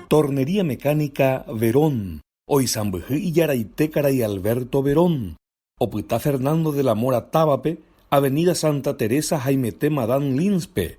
Tornería Mecánica Verón. Oisãmbyhy ijaraite karai Alberto Verón. Opyta Fernando de la Mora távape, Avenida Santa Teresa haimete Madame Lins-pe,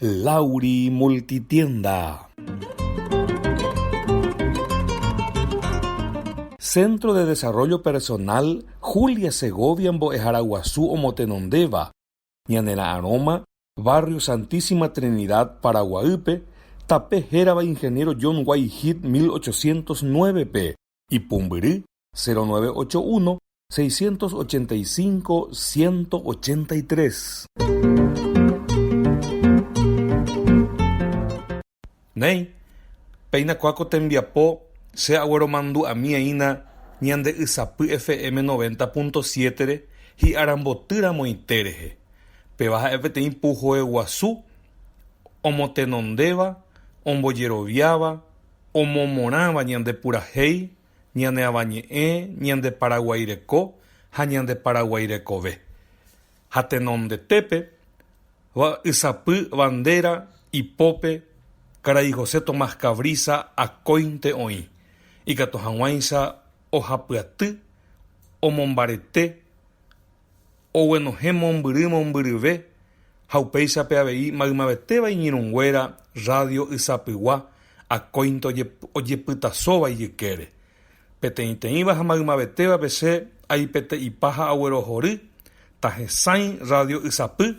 Lauri Multitienda. Centro de Desarrollo Personal Julia Segovia Mbo'ehára Guasu Omotenondéva, Ñanera'arõma, Barrio Santísima Trinidad, Paraguaýpe, tape hérava Ingeniero John Whitehead 1809-pe, Ipumbyry, 0981 685 183. Néi, péina kóa ko tembiapo che agueromandu'amieína Ñande'ysapy FM noventa púnto siétere hi'aramboty ramoite rehe. Péva ha'e peteĩ puhoe guasu omotenondéva, ombojeroviáva, omomorãva ñande purahéi, ñane Avañe'ẽ, ñande Paraguaireko ha ñande Paraguái rekove. Ha tenondetépe, Vy'aysapy bandéra ipópe karai José Tomás Cabrisa akóinte oĩ, ikatu hag̃uáicha ohapyaty omombarete. oguenohẽ mombyry mombyryve ha upéichape avei maymavetéva iñirũnguéra rrádio ysapygua akóinte ojepytasóva ijykére. Peteĩteĩva ha maymavetévape che aipete'ipa ha aguerohory, tahesãi rrádio ysapy,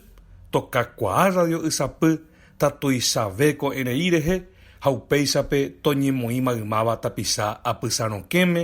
tokakuaa rrádio ysapy ta tuichave ko'ẽrei rehe ha upéichape toñemoĩ maymáva tapicha apysarõkẽme,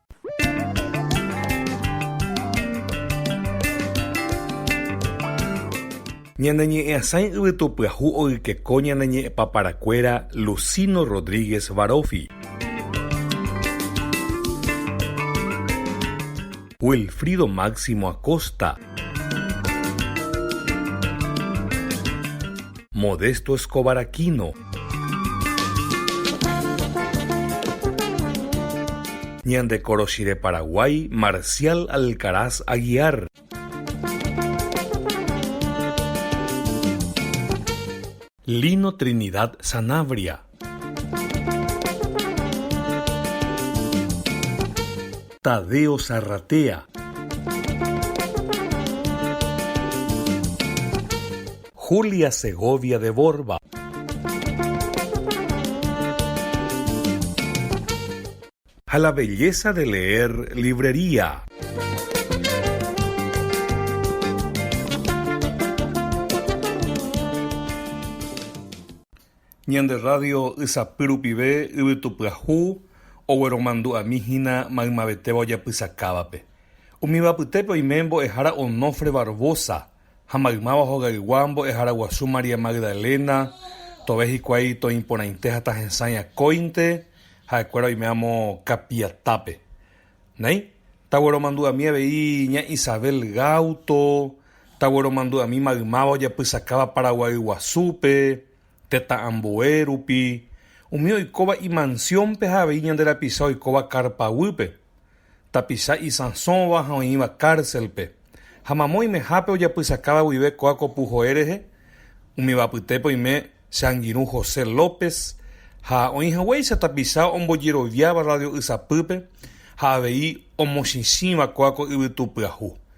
Ñane ñe'ẽ asãi yvytu pyahu oykeko ñane ñe'ẽ paparakuéra Lucino Rodríguez Varofi, Wilfrido Máximo Acosta, Modesto Escobar Aquino, Ñande koroshi de Paraguái, Marcial Alcaraz Aguiar. Lino Trinidad Sanabria. Tadeo Zarratea. Julia Segovia de Borba. Ha la belleza de leer librería. Ñande radio ysapy rupive yvytupyahu ogueromandu'ami hína maymavetéva ojapysakávape. Umivapytépe oime mbo'ehára Onofre Barbosa, Ha maymáva hogaygua mbo'ehára guasu María Magdalena, tove hikuái toĩporãite ha tahesãi akóinte, ha'ekuéra oime amo kapiatápe. Néi, tagueromandu'ami avei ña Isabel Gauto, tagueromandu'ami maymáva ojapysakáva Paraguay guasúpe, Tetã ambue rupi, umi oikóva imansiónpe ha avei ñande rapicha oikóva kárpa guýpe, tapicha isãsóva ha oĩva kárselpe, ha mamo oimehápe ojapysakáva guive kóa ko puhoe rehe, umíva apytépe oime che angirũ José López ha oĩ haguéicha tapicha ombojeroviáva radio'ysapýpe ha avei omochĩchĩva kóa ko yvytu pyahu.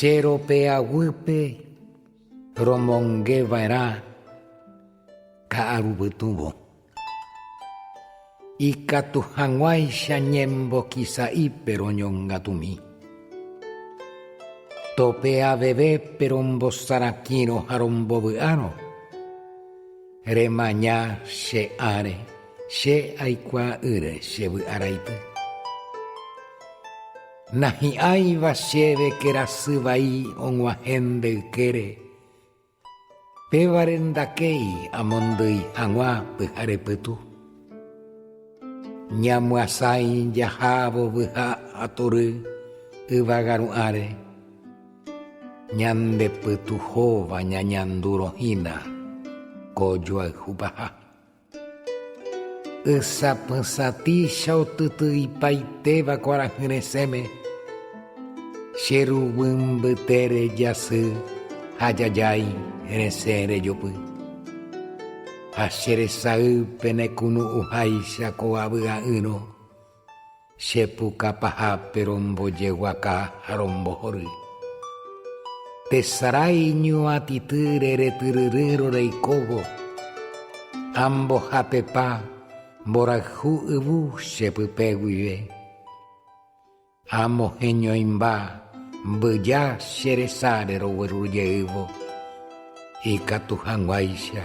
Che ropeaguýpe romongeva'erã ka'arupytũvo. Ikatu hag̃uáicha ñembokisa'ípe roñongatumi. Tope avevépe rombosarãkírõ ha rombovy'árõ. Remaña che áre, che aikuaa'ỹre che vy'araity. Nahi'ãiva chéve kerasy vai og̃uahẽnde ykére. Pévare ndakéi amondýi hag̃ua pyhare pytu. Ñamyasãi jaha vovyha atory yvága ru'ãre, ñande pytuhóva ñañandúrõ hína ko joayhupaha. Ysapysatĩcha otytyipaitéva kuarahy resẽme, che ru vymbyte rejasy ha jajái resẽ rejopy. Ha che resay penekunu'ũháicha ko avy'a'ỹrõ. Che puka pahápe rombojeguaka ha rombohory. Tesarái iñuatity reretyryrýrõ reikóvo, ha mbohapepa mborayhu yvu che pype guive. Amo heñoimba mbyja che resáre rogueru jeývo, ikatu hag̃uáicha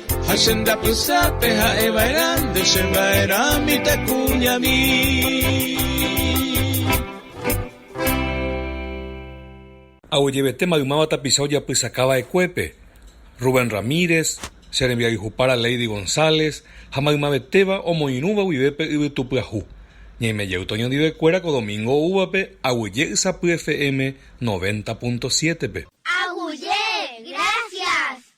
Ha che ndapysápe ha'e va'erã nde che va'erã mitãkuñami. Aguejevete maymáva tapicha ojapysaka va'ekuépe, Rubén Ramírez, che rembiayhupára Leidy González ha maymavetéva omoirũva guive pe yvytu pyahu. Ñaime jey toñondivekuéra ko domingo oúvape aguyje ysapy FM noventa punto siete-pe. Aguyje, gracias!